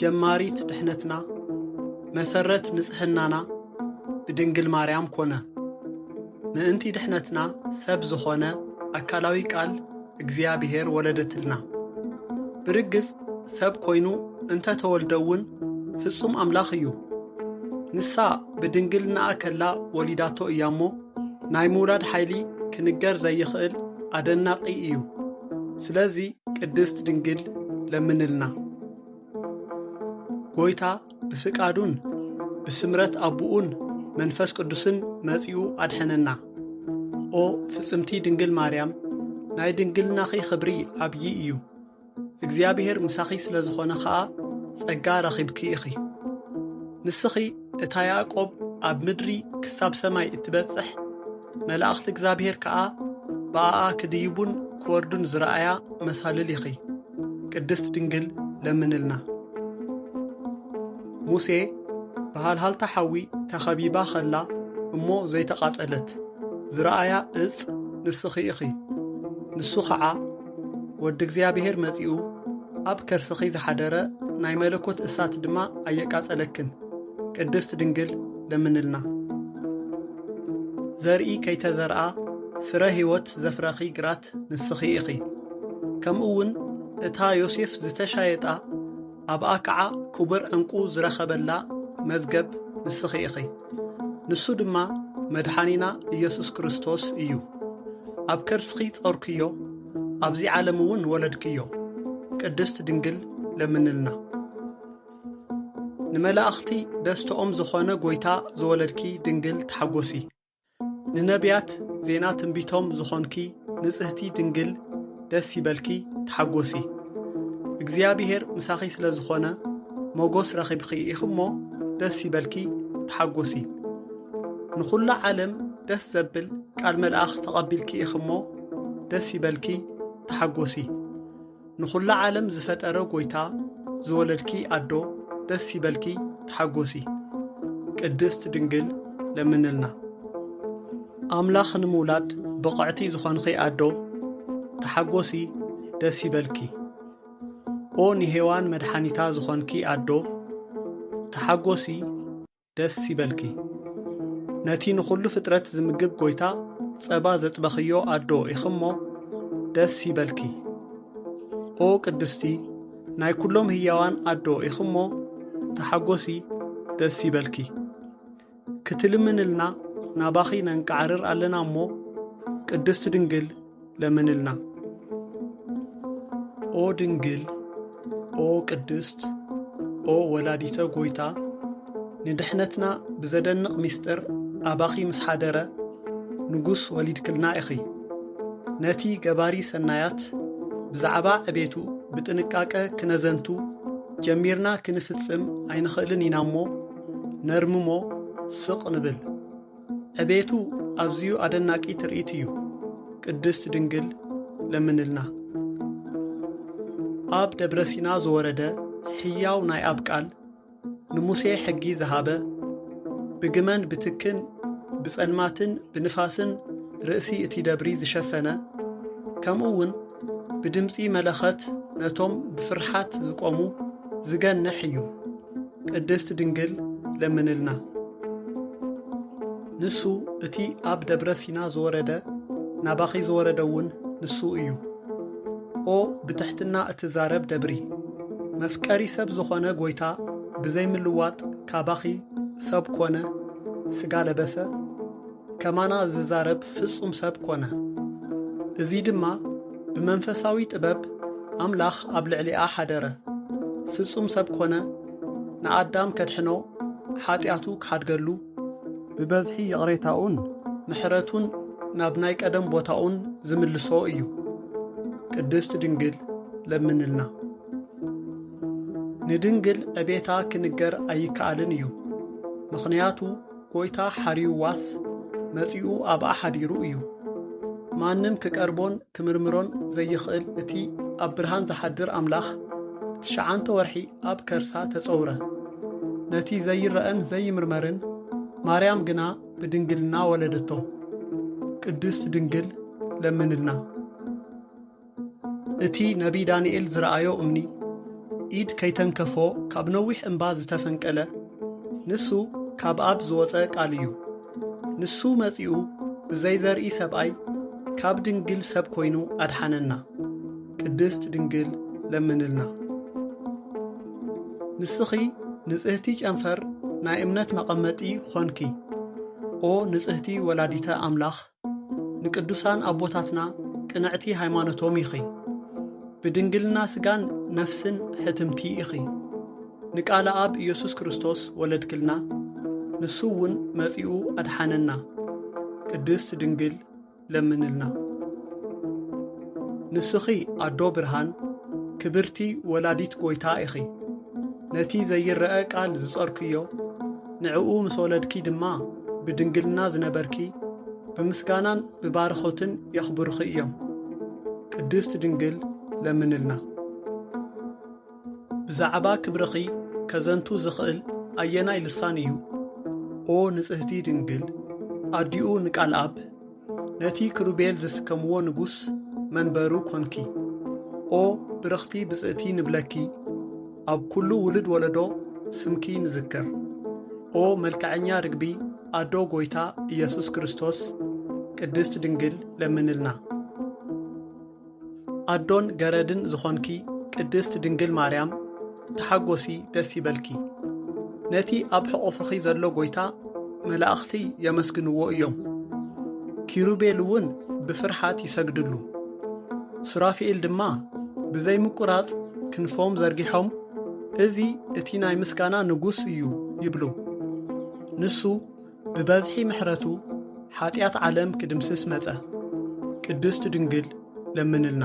ጀማሪት ድሕነትና መሰረት ንጽሕናና ብድንግል ማርያም ኮነ። ምእንቲ ድሕነትና ሰብ ዝኾነ ኣካላዊ ቃል እግዚኣብሔር ወለደትልና። ብርግጽ ሰብ ኮይኑ እንተ ተወልደ እውን ፍጹም ኣምላኽ እዩ። ንሳ ብድንግልናኣ ከላ ወሊዳቶ እያ እሞ ናይ ምውላድ ሓይሊ ክንገር ዘይኽእል ኣደናቂ እዩ። ስለዚ ቅድስት ድንግል ለምንልና። ጐይታ ብፍቃዱን ብስምረት ኣቦኡን መንፈስ ቅዱስን መጺኡ ኣድሐነና። ኦ ፍጽምቲ ድንግል ማርያም ናይ ድንግልናኺ ኽብሪ ዓብዪ እዩ። እግዚኣብሔር ምሳኺ ስለ ዝኾነ ኸኣ ጸጋ ረኺብኪ ኢኺ። ንስኺ እታ ያዕቆብ ኣብ ምድሪ ክሳብ ሰማይ እትበጽሕ መላእኽቲ እግዚኣብሔር ከኣ ብኣኣ ክድይቡን ክወርዱን ዝረኣያ መሳልል ኢኺ። ቅድስት ድንግል ለምንልና። ሙሴ ብሃልሃልታ ሓዊ ተኸቢባ ኸላ እሞ ዘይተቓጸለት ዝረኣያ እጽ ንስኺ ኢኺ። ንሱ ኸዓ ወዲ እግዚኣብሔር መጺኡ ኣብ ከርስኺ ዝሓደረ ናይ መለኮት እሳት ድማ ኣየቃጸለክን። ቅድስት ድንግል ለምንልና። ዘርኢ ከይተዘርኣ ፍረ ሕይወት ዘፍረኺ ግራት ዝሓዘት ንስኺ ኢኺ፣ ከምኡውን እታ ዮሴፍ ዝተሻየጣ ኣብኣ ከዓ ክቡር ዕንቁ ዝረኸበላ መዝገብ ንስኺ ኢኺ። ንሱ ድማ መድሓኒና ኢየሱስ ክርስቶስ እዩ። ኣብ ከርስኺ ጾርክዮ፣ ኣብዚ ዓለም እውን ወለድክዮ። ቅድስት ድንግል ለምንልና። ንመላእኽቲ ደስተኦም ዝኾነ ጐይታ ዝወለድኪ ድንግል ተሓጐሲ። ንነብያት ዜና ትንቢቶም ዝኾንኪ ንጽህቲ ድንግል ደስ ይበልኪ ተሓጎሲ እግዚኣብሄር ምሳኺ ስለ ዝኾነ ሞጎስ ረኺብኺ ኢኺ እሞ ደስ ይበልኪ ተሓጎሲ ንኹላ ዓለም ደስ ዘብል ቃል መልኣኽ ተቐቢልኪ ኢኺ እሞ ደስ ይበልኪ ተሓጎሲ ንኹላ ዓለም ዝፈጠረ ጎይታ ዝወለድኪ ኣዶ ደስ ይበልኪ ተሓጎሲ ቅድስት ድንግል ለምንልና ኣምላኽ ንምውላድ ብቕዕቲ ዝኾንኺ ኣዶ ተሓጎሲ ደስ ይበልኪ ኦ ንሄዋን መድሓኒታ ዝኾንኪ ኣዶ ተሓጎሲ ደስ ይበልኪ ነቲ ንኹሉ ፍጥረት ዝምግብ ጎይታ ጸባ ዘጥበኽዮ ኣዶ ኢኽሞ ደስ ይበልኪ ኦ ቅድስቲ ናይ ኩሎም ህያዋን ኣዶ ኢኽሞ ተሓጎሲ ደስ ይበልኪ ክትልምንልና ናባኺ ነንቃዕርር ኣለና እሞ ቅድስቲ ድንግል ለምንልና። ኦ ድንግል ኦ ቅድስት ኦ ወላዲተ ጎይታ ንድሕነትና ብዘደንቕ ምስጢር ኣባኺ ምስ ሓደረ ንጉስ ወሊድክልና ኢኺ። ነቲ ገባሪ ሰናያት ብዛዕባ ዕቤቱ ብጥንቃቀ ክነዘንቱ ጀሚርና ክንፍጽም ኣይንኽእልን ኢና እሞ ነርምሞ ስቕ ንብል። ዕቤቱ ኣዝዩ ኣደናቂ ትርኢት እዩ። ቅድስት ድንግል ለምንልና። ኣብ ደብረ ሲና ዝወረደ ሕያው ናይ ኣብ ቃል ንሙሴ ሕጊ ዝሃበ ብግመን ብትክን ብጸልማትን ብንፋስን ርእሲ እቲ ደብሪ ዝሸፈነ ከምኡ እውን ብድምፂ መለኸት ነቶም ብፍርሓት ዝቆሙ ዝገንሕ እዩ። ቅድስት ድንግል ለምንልና። ንሱ እቲ ኣብ ደብረ ሲና ዝወረደ ናባኺ ዝወረደ እውን ንሱ እዩ። ኦ ብትሕትና እትዛረብ ደብሪ መፍቀሪ ሰብ ዝኾነ ጎይታ ብዘይምልዋጥ ካባኺ ሰብ ኮነ ስጋ ለበሰ ከማና ዝዛረብ ፍጹም ሰብ ኮነ። እዚ ድማ ብመንፈሳዊ ጥበብ ኣምላኽ ኣብ ልዕሊኣ ሓደረ። ፍጹም ሰብ ኮነ፣ ንኣዳም ከድሕኖ፣ ሓጢኣቱ ክሓድገሉ፣ ብበዝሒ ይቕሬታኡን ምሕረቱን ናብ ናይ ቀደም ቦታኡን ዝምልሶ እዩ። ቅድስት ድንግል ለምንልና። ንድንግል ዕቤታ ክንገር ኣይከኣልን እዩ። ምኽንያቱ ጎይታ ሓርዩዋስ መጺኡ ኣብኣ ሓዲሩ እዩ። ማንም ክቀርቦን ክምርምሮን ዘይኽእል እቲ ኣብ ብርሃን ዝሓድር ኣምላኽ ትሽዓንተ ወርሒ ኣብ ከርሳ ተጸውረ። ነቲ ዘይረኣን ዘይምርመርን ማርያም ግና ብድንግልና ወለደቶ። ቅድስት ድንግል ለምንልና። እቲ ነብዪ ዳንኤል ዝረኣዮ እምኒ፣ ኢድ ከይተንከፎ ካብ ነዊሕ እምባ ዝተፈንቀለ፣ ንሱ ካብ ኣብ ዝወጸ ቃል እዩ። ንሱ መጺኡ ብዘይ ዘርኢ ሰብኣይ ካብ ድንግል ሰብ ኮይኑ ኣድሓነና። ቅድስት ድንግል ለምንልና። ንስኺ ንጽህቲ ጨንፈር ናይ እምነት መቐመጢ ኾንኪ። ኦ ንጽህቲ ወላዲተ ኣምላኽ ንቅዱሳን ኣቦታትና ቅንዕቲ ሃይማኖቶም ኢኺ ብድንግልና ስጋን ነፍስን ሕትምቲ ኢኺ ንቃለ ኣብ ኢየሱስ ክርስቶስ ወለድክልና ንሱ እውን መጺኡ ኣድሓነና ቅድስት ድንግል ለምንልና ንስኺ ኣዶ ብርሃን ክብርቲ ወላዲት ጐይታ ኢኺ ነቲ ዘይረኣ ቃል ዝጾርክዮ ንዕኡ ምስ ወለድኪ ድማ ብድንግልና ዝነበርኪ ብምስጋናን ብባርኾትን የኽብሩኺ እዮም። ቅድስት ድንግል ለምንልና። ብዛዕባ ክብርኺ ከዘንቱ ዝኽእል ኣየናይ ልሳን እዩ? ኦ ንጽህቲ ድንግል ኣዲኡ ንቃልኣብ ነቲ ክሩቤል ዝስከምዎ ንጉስ መንበሩ ኮንኪ። ኦ ብርኽቲ ብጽእቲ ንብለኪ ኣብ ኩሉ ውሉድ ወለዶ ስምኪ ንዝክር። ኦ መልክዐኛ ርግቢ ኣዶ ጎይታ ኢየሱስ ክርስቶስ ቅድስት ድንግል ለምንልና። ኣዶን ገረድን ዝኾንኪ ቅድስት ድንግል ማርያም ተሓጎሲ ደስ ይበልኪ። ነቲ ኣብ ሕቑፍኺ ዘሎ ጎይታ መላእኽቲ የመስግንዎ እዮም። ኪሩቤል እውን ብፍርሓት ይሰግድሉ። ሱራፊኤል ድማ ብዘይምቁራጽ ክንፎም ዘርጊሖም እዚ እቲ ናይ ምስጋና ንጉስ እዩ ይብሉ። ንሱ ብበዝሒ ምሕረቱ ሓጢኣት ዓለም ክድምስስ መጸ። ቅድስት ድንግል ለምንልና።